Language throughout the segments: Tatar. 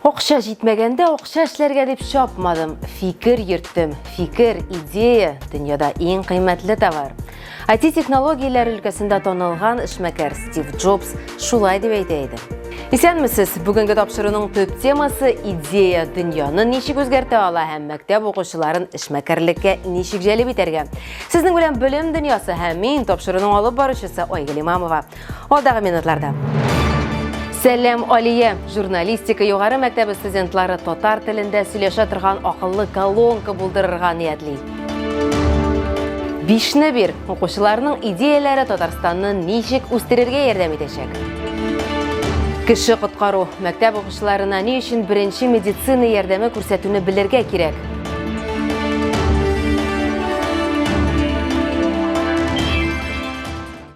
Акча җитмәгәндә акча эшләргә дип чапмадым. Фикер йөрттем. Фикер, идея, дөньяда иң кыйммәтле товар. IT-технологияләр өлкәсендә танылган эшмәкәр Стив Джобс шулай дип әйтә иде. Исәнмесез! Бүгенге тапшыруның төп темасы идея дөньяны ничек үзгәртә ала һәм мәктәп укучыларын эшмәкәрлеккә ничек җәлеп итәргә. Сезнең белән белем дөньясы һәм мин тапшыруның алып баручысы Айгөл Имамова. Алдагы минутларда. Сәлам, Алия! Журналистика югары мәктәбе студентлары татар телендә сөйләшә торган акыллы колонка булдырырга ниятли. Бишне бир, укучыларның идеяләре Татарстанны ничек үстерергә ярдәм итәчәк? Кеше коткару, мәктәп укучыларына ни өчен беренче медицина ярдәме күрсәтүне белергә кирәк?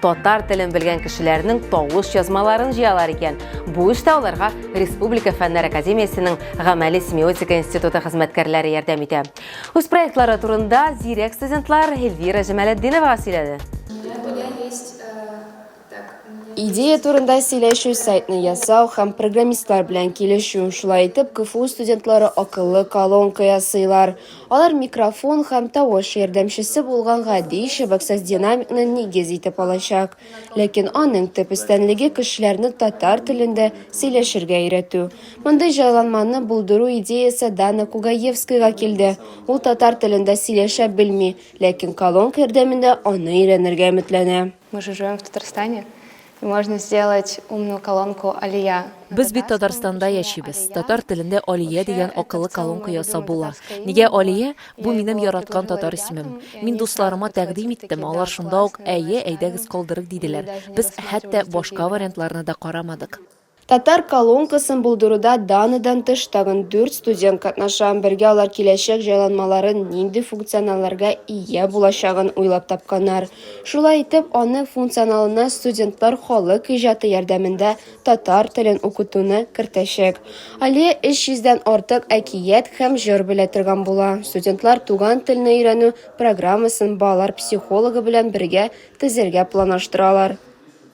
Татар телен белгән кешеләрнең тавыш язмаларын җыялар икән. Бу эштә аларга Республика фәннәр академиясенең гамәли семиотика институты хезмәткәрләре ярдәм итә. Үз проектлары турында зирәк студентлар Эльвира Җамалетдиновага сөйләде. Идея турында сөйләшү, сайтны ясау һәм программистлар белән килешү. Шулай итеп, КФУ студентлары акыллы колонка ясыйлар. Алар микрофон һәм тавыш ярдәмчесе булган гади чыбыксыз динамикны нигез итеп алачак. Ләкин аның төп өстенлеге кешеләрне татар телендә сөйләшергә өйрәтү. Мондый җайланманы булдыру идеясе Дана Кугаевскойга килде. Ул татар телендә сөйләшә белми, ләкин колонка ярдәмендә аны өйрәнергә өметләнә. Мы же живем в Татарстане, и можно сделать умную колонку Алия. Без бит Татарстанда яшибез. Татар телендә Алия дигән акыллы колонка ясап була. Нигә Алия? Бу минем яраткан татар исемем. Мин дусларыма тәкъдим иттем, алар шунда ук әйе, әйдәгез калдырыйк диделәр. Без хәтта башка вариантларны да карамадык. Татар колонкасын булдыруда даныдан тыш тагын дүрт студент катнаша. Бергә алар киләчәк җайланмаларын, нинди функционалларга ия булачагын уйлап тапканнар. Шулай итеп, аның функционалына студентлар халык иҗаты ярдәмендә татар телен укытуны кертәчәк. Алия 300 дән артык әкият һәм җыр белә торган була. Студентлар туган телне өйрәнү программасын балалар психологы белән бергә төзергә планлаштыралар.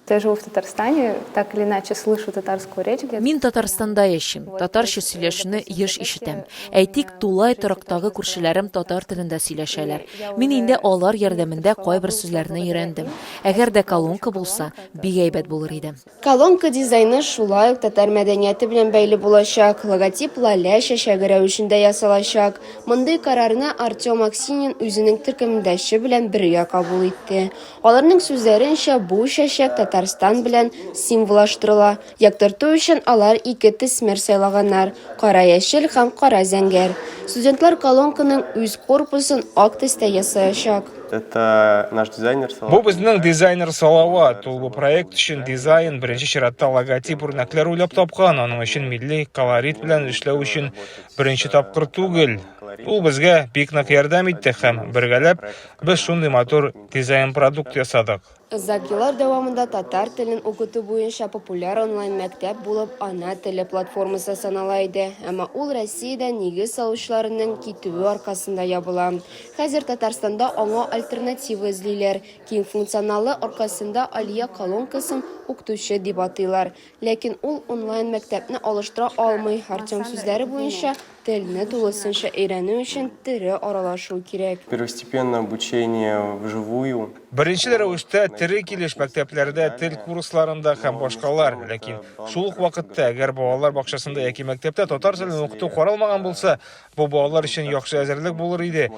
Я живу в Татарстане, так или иначе слышу татарскую речь где-то. Мин Татарстанда яшим, татарча сөйләшүне еш ишетәм. Әйтик, тулай торактагы күршеләрем татар телендә сөйләшәләр. Мин инде алар ярдәмендә кайбер сүзләрне өйрәндем. Әгәр дә колонка булса, бик әйбәт булыр иде. Колонка дизайны шулай ук татар мәдәнияте белән бәйле булачак, логотип лалә чәчәге рәвешендә ясалачак. Мондый карарны Артем Аксинин үзенең төркемдәше белән бергә кабул итте. Аларның сүзләренчә, бу чәчәк Татарстан белән символаштырыла. Яктырту өчен алар ике төсмер сайлаганнар, кара-яшел һәм кара-зәңгәр. Студентлар колонканың үз корпусын ак төстә ясаячак. Бу безнең дизайнер Салават. Ул бу проект өчен дизайн, беренче чиратта логотип, үрнәкләр уйлап тапкан. Аның өчен милли колорит белән эшләү өчен беренче тапкыр түгел. Ул безгә бик нык ярдәм итте һәм бергәләп Без шундый матур дизайн-продукт ясадык. Озак еллар дәвамында татар телен укыту буенча популяр онлайн-мәктәп булып Ана теле платформасы санала иде, әмма ул Россиядән нигез салучыларының китүе аркасында ябыла. Хәзер Татарстанда аңа альтернатива эзлиләр. Киң функционаллы аркасында Алия колонкасын Укытучы дип атыйлар. Ләкин ул онлайн-мәктәпне алыштыра алмый. Артем сүзләре буенча, телне тулысынча өйрәнү өчен тере аралашу кирәк. Первостепенно обучение вживую. Беренчел рәвештә тере килеш мәктәпләрдә, тел курсларында һәм башкалар. Ләкин шул ук вакытта, әгәр балалар бакчасында яки мәктәптә татар телен укыту каралмаган булса, бу балалар өчен яхшы әзерлек булыр иде.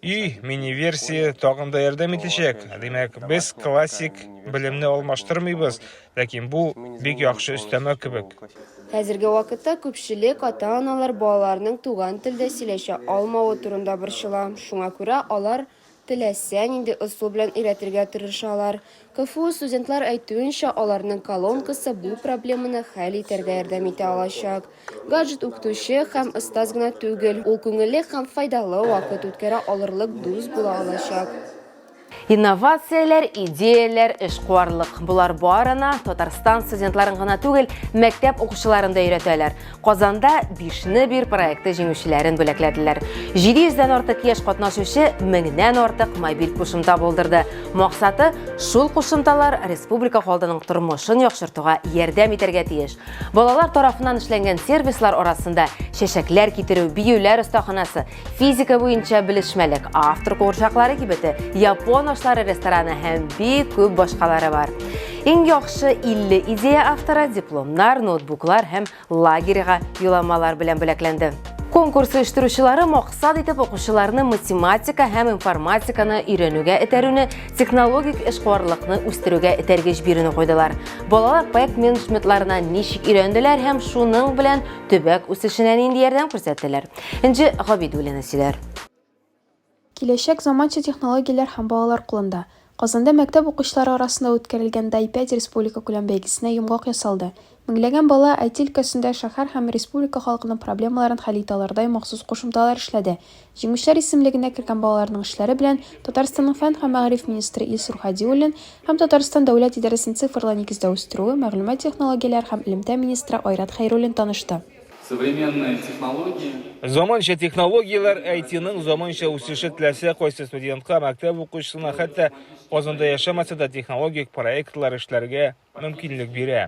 Өй мини-версия тагын да ярдәм итәчәк. Димәк, без классик белемне алмаштырмыйбыз, Ләкин бу бик яхшы өстәмә кебек. Хәзерге вакытта күпчелек ата-аналар балаларының туган телдә сөйләшә алмавы турында борчыла. Шуңа күрә алар теләсә нинди ысул белән өйрәтергә тырышалар. КФУ студентлар әйтүенчә, аларның колонкасы бу проблеманы хәл итәргә ярдәм итә алачак. Гаджет укытучы һәм остаз гына түгел, ул күңелле һәм файдалы вакыт үткәрә алырлык дус була алачак. Инновацияләр, идеяләр, эшкуарлык. Болар барына Татарстан студентларын гына түгел, мәктәп укучыларын да өйрәтәләр. Казанда бишне бир проекты җиңүчеләрен бүләкләделәр. 700 дән артык яшь катнашучы меңнән артык мобиль кушымта булдырды. Максаты шул кушымталар республика халдының тормышын яхшыртуга ярдәм итәргә тиеш. Балалар тарафыннан эшләнгән сервислар арасында чәчәкләр китерү, биюләр остаханасы, Физика буенча белешмәлек, автор курчаклары кибете, япон ашлары рестораны һәм бик күп башкалары бар. Иң яхшы 50 идея автора дипломнар, ноутбуклар һәм лагерьга юламалар белән бүләкләнде. Конкурс оештыручылары максат итеп укучыларны математика һәм информатиканы өйрәнүгә этәрүне, технологик эшкуарлыкны үстерүгә этәргеч бирүне куйдылар. Балалар проект менеджментларына ничек өйрәнделәр һәм шуның белән төбәк үсешенә нинди ярдәм күрсәттеләр? Энҗе Габидуллина сөйләр. Киләчәк заманча технологияләр һәм балалар кулында. Казанда мәктәп укучылары арасында үткәрелгән Дай пять республикакүләм бәйгесенә йомгак ясалды. Меңләгән бала IT өлкәсендә шәһәр һәм республика халкының проблемаларын хәл итә алырдай махсус кушымталар эшләде. Җиңүчеләр исемлегенә кергән балаларның эшләре белән Татарстанның фән һәм мәгариф министры Илсур Һадиуллин һәм Татарстан Дәүләт идарәсен цифрлы нигездә үстерү, мәгълүмат технологияләре һәм элемтә министры Айрат Хәйруллин танышты. Современные технологии. Заманча технологияләр IT-ның заманча үсеше теләсә кайсы студентка, мәктәп укучысына, хәтта Казанда яшәмәсә дә технологик проектлар эшләргә мөмкинлек бирә.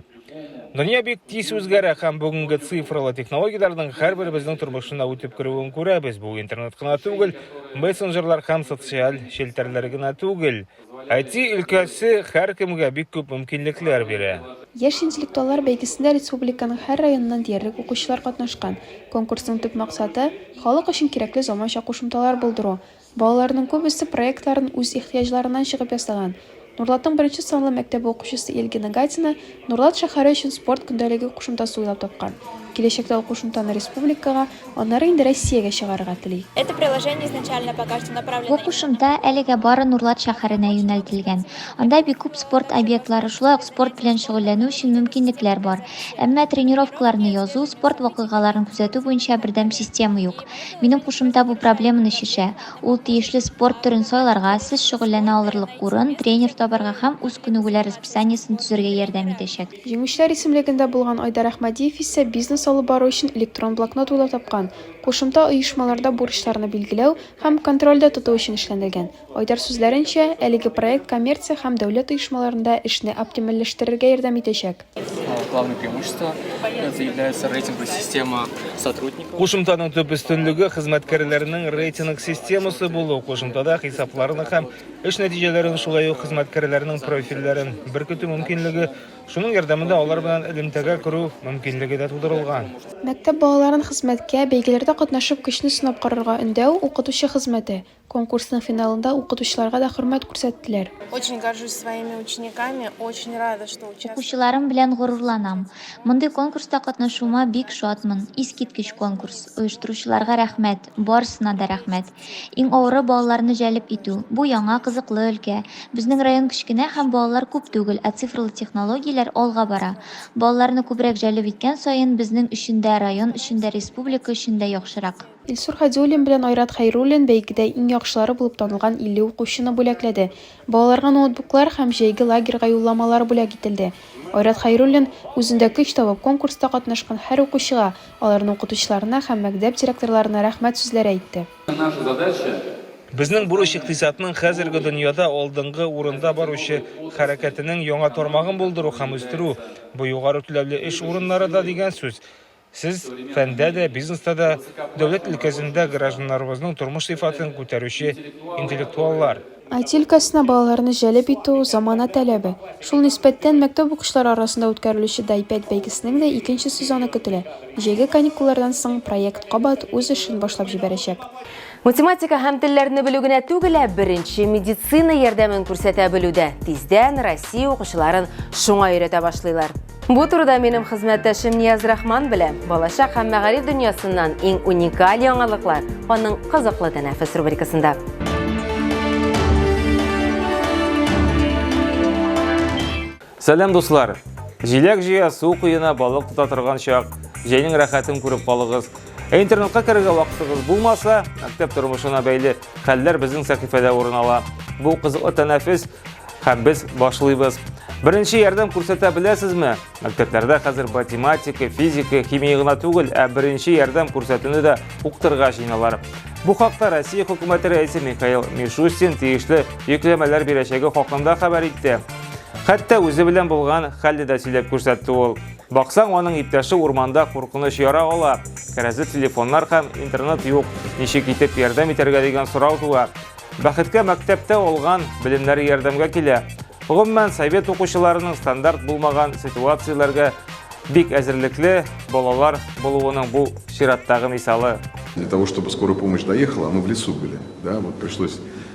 Дөнья бик тиз үзгәрә һәм бүгенге цифрлы технологияләрнең һәрберебезнең тормышына үтеп керүен күрәбез. Бу интернет кына түгел, мессенджерлар һәм социаль челтәрләр генә түгел. IT өлкәсе һәркемгә бик күп мөмкинлекләр бирә. Яшь интеллектуаллар бәйгесендә республиканың һәр районыннан диярлек укучылар катнашкан. Конкурсның төп максаты, халык өчен кирәкле заманча кушымталар булдыру. Балаларның күбесе проектларын үз ихтыяҗларыннан чыгып ясаган. Нурлатның беренче санлы мәктәбе укучысы Эльгина Гатина Норлат шәһәре өчен спорт көндәлеге кушымтасы уйлап тапкан. Киләчәктә ул кушымтаны республикага, аннары инде Россиягә чыгарырга тели. Это приложение изначально пока что направлено Бу кушымта әлегә бары Норлат шәһәренә юнәлтелгән. Анда бик күп спорт объектлары, шулай ук спорт белән шөгыльләнү өчен мөмкинлекләр бар. Әмма тренировкаларны язу, спорт вакыйгаларын күзәтү буенча бердәм система юк. Минем кушымта бу проблеманы чишә. Ул тиешле спорт төрен сайларга, сез шөгыльләнә алырлык урын, тренер табарга һәм үз күнегүләр расписаниесен төзергә ярдәм итәчәк. Җиңүчеләр исемлегендә булган Айдар Әхмәдиев исә бизнес алып бару өчен электрон блокнот уйлап тапкан, кушымта оешмаларда бурычларны билгеләү һәм контрольдә тоту өчен эшләндергән. Айдар сүзләренчә, әлеге проект коммерция һәм дәүләт оешмаларында эшне оптимальләштерергә ярдәм итәчәк. Главное преимущество это является рейтинговая система сотрудников. Кушымтаның төп өстенлеге хезмәткәрләрнең рейтинг системасы булу. Кушымтада хисапларны һәм эш нәтиҗәләрен шулай ук хезмәткәрләрнең профильләрен беркетү мөмкинлеге, шуның ярдәмендә алар белән элемтәгә керү мөмкинлеге дә тудырылган. Мәктәп балаларын хезмәткә, бәйгеләрдә катнашып көчне сынап карарга өндәү, укытучы хезмәте, Конкурсның финалында укытучыларга да хөрмәт күрсәттеләр. Очень горжусь своими учениками, очень рада, что участвую. Укучыларым белән горурланам. Мондый конкурста катнашуыма бик шатмын. Искиткеч конкурс. Оештыручыларга рәхмәт. Барысына да рәхмәт. Иң авыры балаларны җәлеп итү. Бу яңа, кызыклы өлкә. Безнең район кечкенә һәм балалар күп түгел, ә цифрлы технологияләр алга бара. Балаларны күбрәк җәлеп иткән саен, безнең өчен дә, район өчен дә, республика өчен дә яхшырак. Илсур Хадиуллин белән Айрат Хәйруллин бәйгедә иң яхшылары булып танылган 50 укучыны бүләкләде. Балаларга ноутбуклар һәм җәйге лагерьга юлламалар бүләк ителде. Айрат Хәйруллин, үзендә көч табып, конкурста катнашкан һәр укучыга, аларның укытучыларына һәм мәктәп директорларына рәхмәт сүзләре әйтте. Безнең бурыч икътисадның хәзерге дөньяда алдынгы урында баручы хәрәкәтенең яңа тармагын булдыру һәм үстерү. Бу югары түләүле эш урыннары да дигән сүз. Сез, фәндә дә, бизнеста да, дәүләт өлкәсендә гражданнарыбызның тормыш сыйфатын күтәрүче интеллектуаллар. IT өлкәсенә балаларны җәлеп итү, замана таләбе. Шул нисбәттән, мәктәп укучылары арасында үткәрелүче DiPad бәйгесенең дә икенче сезоны көтелә. Җәйге каникуллардан соң проект кабат үз эшен башлап җибәрәчәк. Математика һәм телләрне белү генә түгел, ә беренче медицина ярдәмен күрсәтә белү дә. Тиздән Россия укучыларын шуңа өйрәтә башлыйлар. Бу турыда минем хезмәттәшем Нияз Рахман белән балачак һәм мәгариф дөньясыннан иң уникаль яңалыклар аның кызыклы тәнәфес рубрикасында. Сәлам дуслар! Җиләк җыя, су куена, балык тота торган чак, җәйнең рәхәтен күреп калыгыз. Ә интернетка керергә вакытыгыз булмаса, мәктәп тормышына бәйле Хәлләр безнең сәхифәдә урын ала. Бу кызыклы тәнәфес һәм без башлыйбыз. Беренче ярдәм күрсәтә беләсезме? Мәктәпләрдә хәзер математика, физика, химия гына түгел, ә беренче ярдәм күрсәтүне дә укытырга җыеналар. Бу хакта Россия хөкүмәте рәисе Михаил Мишустин тиешле йөкләмәләр бирәчәге хакында хәбәр итте. Хәтта үзе белән булган хәлне дә сөйләп күрсәтте ул. Баксаң, аның иптәше урманда куркыныч яра ала. Кәрәзле телефоннар һәм интернет юк. Ничек итеп ярдәм итәргә дигән сорау туа. Бәхеткә мәктәптә алган белемнәре ярдәмгә килә. Гомумән, совет укучыларының стандарт булмаган ситуацияләргә бик әзерлекле балалар булуының бу чираттагы мисалы. Для того, чтобы скорая помощь доехала, мы в лесу были. Да, вот пришлось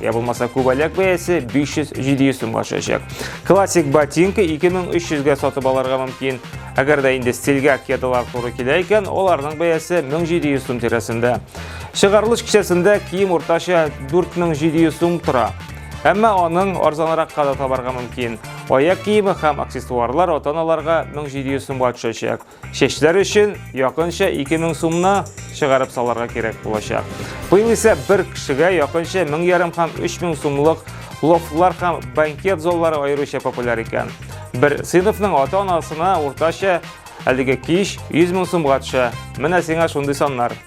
я булмаса күбәләк бәясе 500-700 сумга төшәчәк. Классик ботинка 2300 га сатып алырга мөмкин. Әгәр дә инде стильгә кедалар туры килә икән, аларның бәясе 1700 сум тирәсендә. Чыгарылыш кичәсендә кием уртача 4700 сум тора. Әмма аның арзанрак кадат табарга мөмкин. Аяк киеме һәм аксессуарлар ата-аналарга 1700 сумга төшәчәк. Чәчләр өчен якынча 2000 сумны чыгарып саларга кирәк булачак. Быел исә бер кешегә якынча 1000 ярым һәм 3000 сумлык лофтлар һәм банкет заллары аеруча популяр икән. Бер сыйныфның ата-анасына уртача әлеге кич 100 мең сумга төшә. Менә сиңа шундый саннар.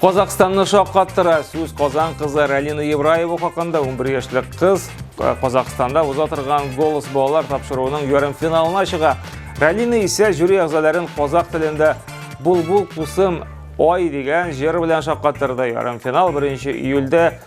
Казахстанны шаккаттыра сүз Казан кызы Ралина Евраева хакында 11 яшьлек кыз э, Казахстанда уза торган голос балалар тапшыруының ярым финалына чыга. Ралина исә жюри әгъзаларын казах телендә булбул кусым ой дигән җыр белән шаккаттырды. Ярым финал 1 июльдә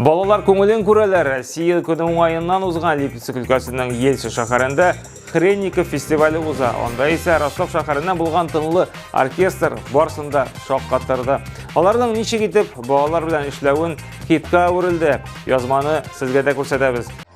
Балалар күңелен күрәләр. Россия көне уңаеннан узган Липецк өлкәсенең Елчы шәһәрендә Хренников фестивале уза. Анда исә Ростов шәһәреннән булган тынлы оркестр барсында шаккатырды. Аларның ничек итеп балалар белән эшләвен хитка әверелде. Язманы сезгә дә күрсәтәбез.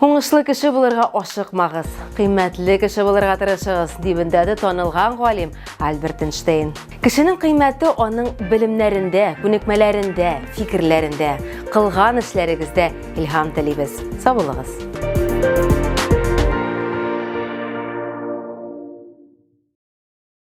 Уңышлы кеше булырга ашыкмагыз, кыйммәтле кеше булырга тырышыгыз, дип өндәде танылган галим Альберт Эйнштейн. Кешенең кыйммәте аның белемнәрендә, күнекмәләрендә, фикерләрендә, кылган эшләрегездә илһам телибез. Саулыгыз!